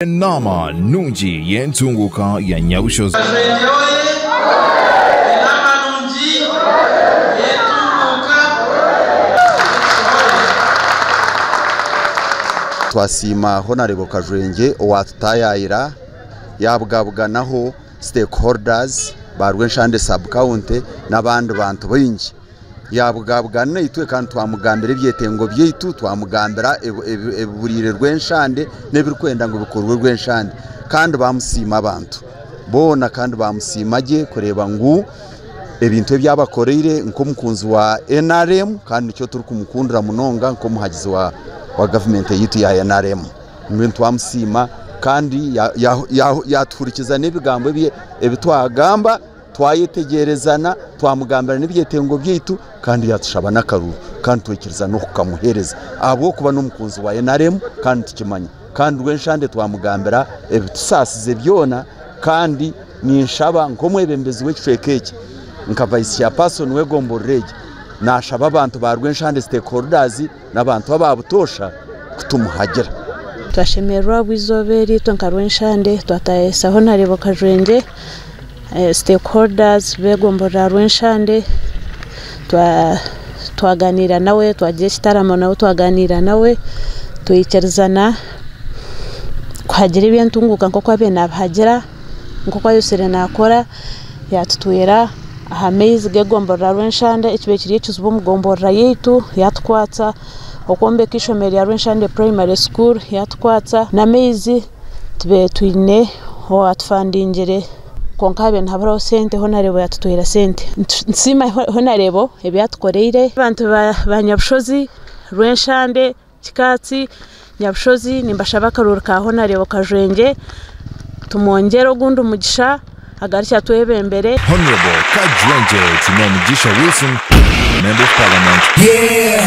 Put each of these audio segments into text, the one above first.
Enaama nungi y'entunguuka ya Nyabushozi. Twasiima Honarebo Kajwengye owatutayaayira yabugabuganaho stakeholders ba Rwenshande sub county n'abandi bantu baingi Yaabugaabugana naitwe kandi twamugambira ebyetengo byaitu, twamugambira ebiburiire Rwenshande n'ebirikwenda ngu bikorwe Rwenshande kandi baamusiima abantu boona kandi baamusiima gye kureeba ngu ebintu ebi abakoreire nk'omukunzi wa NRM kandi nikyo turikumukundira munonga nk'omuhagizi wa gavumenti yaitu ya NRM mbwenu twamusiima kandi yaatuhurikiza n'ebigambo ebi twagamba Twayetegyerezana, twamugambira n'ebyetengo byaitu kandi yaatushaba n'akaruru kandi twikiriza n'okukamuheereza ahabw'okuba n'omukunzi wa nrm kandi nitukimanya kandi Rwenshande twamugambira ebitusaasize byona kandi ninshaba nk'omwebembezi w'ekicweka eki nka Vice Chairperson w'egombolola egi naashaba abantu ba Rwenshande Stakeholders n'abantu aba butoosha kutumuhagira. Twashemererwa ahabwa eizooba eri itwe nka Rwenshande twataayaayisa Honarebo Kajwengye, stakeholders b'egombora ya Rwenshande twagaaniira nawe twagira ekitaramo nawe twagaaniira nawe twaikirizana kuhagira eby'entunguuka nk'oku abaire nabihagira. nk'oku ayotsire naakora yaatutwera aha maizi g'egomborora Rwenshanda ekibire kiri ekizibu omu gomborora yaitu yaatukwatsa okwombeka eishomero rya Rwenshanda Primary School yaatukwatsa n'amaizi tubaire twine owaatufandingire kwonka haabaire nihaburaho sente honareebo yaatutwera sente nitusiima honareebo ebi yaatukoreire abantu ba Nyabushozi Rwenshande Kikaatsi, Nyabushozi nimbashaba akaroori ka Honarebo Kajwengye tumwongyere ogundi mugisha agarukye atwebembere. Honarebo Kajwengye Kinyamugisha Wilson Member of Parliament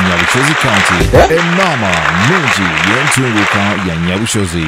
Nyabushozi County Enaama nungi y'entunguuka ya Nyabushozi.